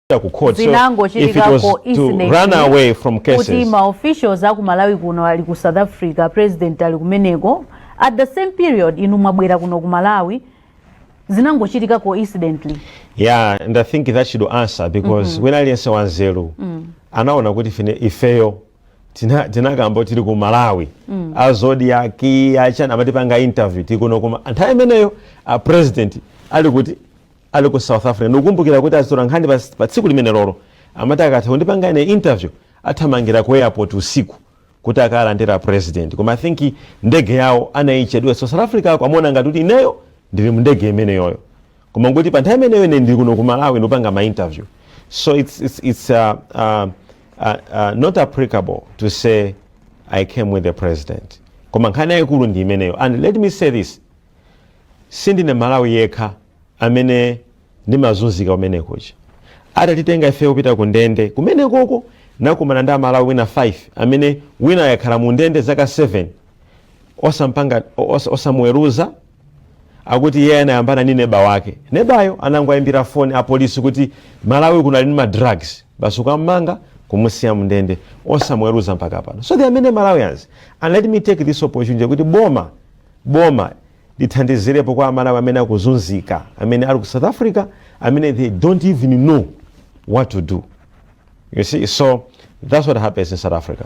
kupita ku court so if it was to run away from cases kuti ma officials aku malawi kuno ali ku south africa president ali kumeneko at the same period inu mwabwera kuno ku malawi zinangochitika coincidentally yeah and i think that should answer because wina aliyense wanzeru anaona kuti fine ifeyo tina- tinakamba tili ku malawi a Zodiak achani amatipanga interview tikuno kuma nthawi imeneyo a president ali kuti Ali ku South Africa ndikukumbukira kuti azitolankhani pa, pa tsiku limenelolo amati akatha kundipanga ine interview athamangira ku airport usiku kuti akalandira president koma i think ndege yawo anayichedwa so south africako amaona ngati kuti ineyo ndili mu ndege imeneyoyo koma nkuti pa nthawi imeneyo ine ndili kuno ku malawi ndikupanga ma interview so it's, it's, it's uh, uh, uh, uh, not applicable to say i came with the president koma nkhani yayikulu ndi imeneyo and let me say this sindine malawi yekha amene ndimazunzika kumene kuja atatitenga ifeyo kupita ku ndende kumene koko nakumana ndi amalawi ena 5 amene wina wakhala mu ndende zaka 7 osampanga os, osamuweruza akuti iye anayambana ndi neba wake nebayo anangoyimbira foni apolisi kuti malawi uyu ali ndi madrugs basi kukammanga kumusiya mndende osamuweruza mpaka pano so there are many malawians and let me take this opportunity kuti boma Boma lithandizirepo kwa amalawi amene akuzunzika amene ali ku south africa amene they dont even know what to do you see so thats what happens in south africa.